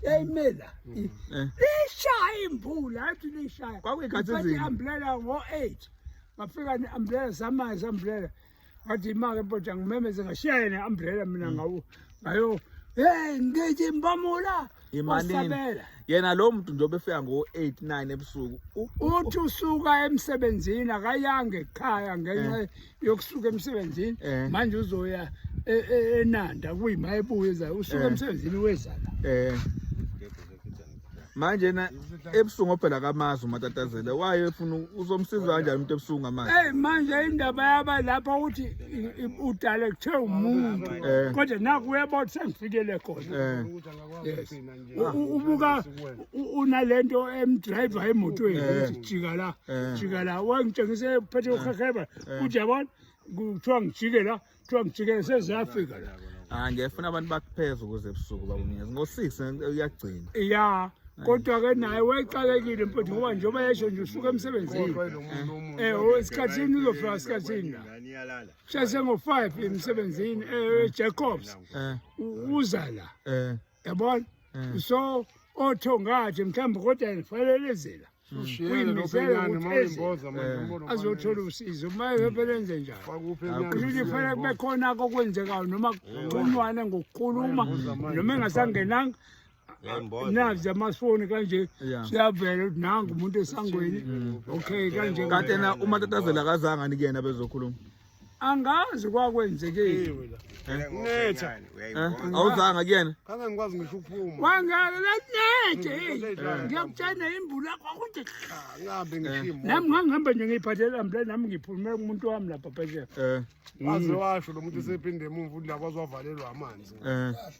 yayimela lishaya imvula athi lishaya kwakuyikhathizihambulala ngo-eight ngafika ne-umbrella samanzi umbrella ngathi imake bota ngimemeze ngashiya yena umbrella mina ngawo ngayo hey ngithi mbamula imalini Wasabela. yena lo muntu njengoba efika ngo-8 9 ebusuku u- u- uthi usuka emsebenzini akayange ekhaya ngenxa yokusuka emsebenzini Eh. manje uzoya e- e- enanda kuyima ebuya ezayo usuka Eh. emsebenzini wezala eh manje na ebusuku ngophela kamazi umatatazele waye efuna u- uzomsiza kanjani umuntu ebusuku ngamanje eyi manje indaba yaba lapho ukuthi i- i- udale kuthe umuntu Eh. kodwa naku uyabona ukuthi sengifikele khona eh Yes. U- u- ubuka u- unalento emdriver emotweni Eh. uthi jika la Eh. jika la wangitshengise uphethe ukhekheba uthi yabona kuthiwa ngijike la kuthiwa ngijike la, seziyafika la Ah ngiyafuna abantu bakupheza ukuze ebusuku bakunyeza. Ngo6 uyagcina. ya kodwa ke naye wayixakekile mfowethu ngoba njengoba yesho nje usuke emsebenzini Kodwa lo muntu omuhle. Eh, oh, esikhathini uzofika esikhathini la. Ngani yalala. sasengo-five emsebenzini ejacobs eh, eh, eh. uza la yabona so othongathi mhlawumbe kodwa nifanelezela azothola usizo uma ebelenze njalokuthi fanele kube khona-ko okwenzekayo noma kunwane ngokukhuluma noma engasangenanga nazi amasifoni kanje siyavela ukuthi nangu umuntu esangweni mm. okay kanje kade na umatatazela akazanga ni kuyena bezokhuluma angazi kwakwenzekile netha eh? awuzanga kuyena kange ngikwazi ngisho ukuphuma wangale lanethe mm, ngiyakutshena imbula kwakuthi ngihambe eh. ngishimo nami ngangihamba nje ngiyiphathela ambulance nami ngiphumela kumuntu wami lapha phesheya eh. waze washo lo muntu sephinde emuva ukuthi lapho azovalelwa amanzi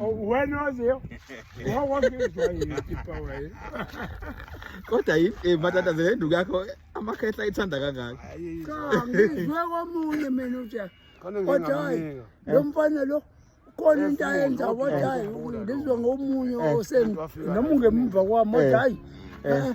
wena oziyo wawaizwayiipawaye kodwa yini eh, matata vele induku yakho amakhehla ithanda kangaka ngizwe komunye mina uthi kodwa hayi lo mfana lo khona into ayenza kodwa hayi ngizwe ngomunye osemnoma ungemumva kwami kodwa hayi Eh.